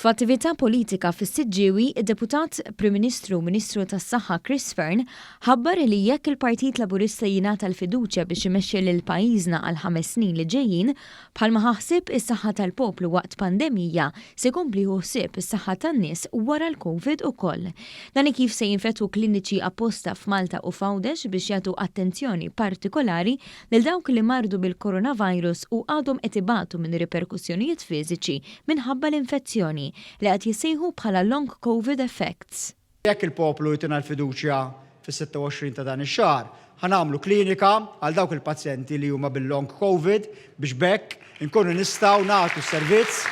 F'attività politika fis-Siġġiewi, id-Deputat Prim Ministru u Ministru tas-Saħħa Chris Fearne ħabbar li jekk il-Partit Laburista jingħata l-fiduċja biex imexxi lil pajjiżna għall-ħames snin li ġejjin, bħalma ħa ħsieb is-saħħa tal-poplu waqt pandemija, se jkompli jieħu ħsieb is-saħħa tan-nies wara l-Covid ukoll. Dan hi kif se jinfetħu kliniċi apposta f'Malta u f'Għawdex biex jagħtu attenzjoni partikolari lil dawk li mardu bil-coronavirus u għadhom qed ibatu minn riperkussjonijiet fiżiċi minħabba l-infezzjoni, li qed jissejħu bħala long covid effects. Jekk il-poplu jtina l-fiduċja fis-26 ta' dan ix-xahar, ħa nagħmlu klinika għal dawk il-pazjenti li huma bil-long covid biex b'hekk, inkunu nistgħu nagħtu s-servizz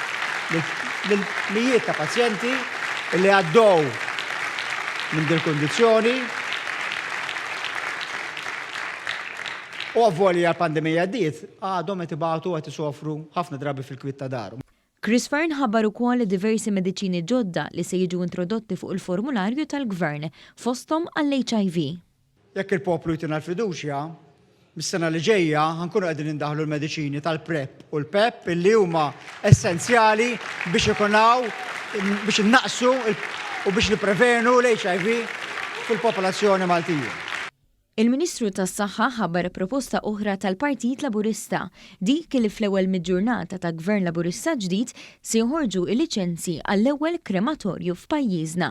lil mijiet ta' pazjenti li għaddew minn dil-kundizzjoni u avvolja l-pandemija għaddiet, għadhom qed ibatu u qed isofru ħafna drabi fil-kwiet ta' darhom. Chris Fearne ħabbar ukoll li diversi mediċini ġodda li se jiġu introdotti fuq il-formularju tal-Gvern, fosthom għall-HIV. Jekk il-poplu jtina l-fiduċja, mis-sena li ġejja ħa nkunu qegħdin indaħħlu l-mediċini tal-PrEP u l-PEP illi huma essenzjali biex ikun hawn biex innaqsu u biex nipprevenu l-HIV fil-popolazzjoni Maltija. Il-Ministru tas-Saħħa ħabbar proposta oħra tal-Partit Laburista, dik li fl-ewwel mill-ġurnata ta' Gvern Laburista ġdid Se joħorġu l-liċenzji għall-ewwel krematorju f'pajjiżna.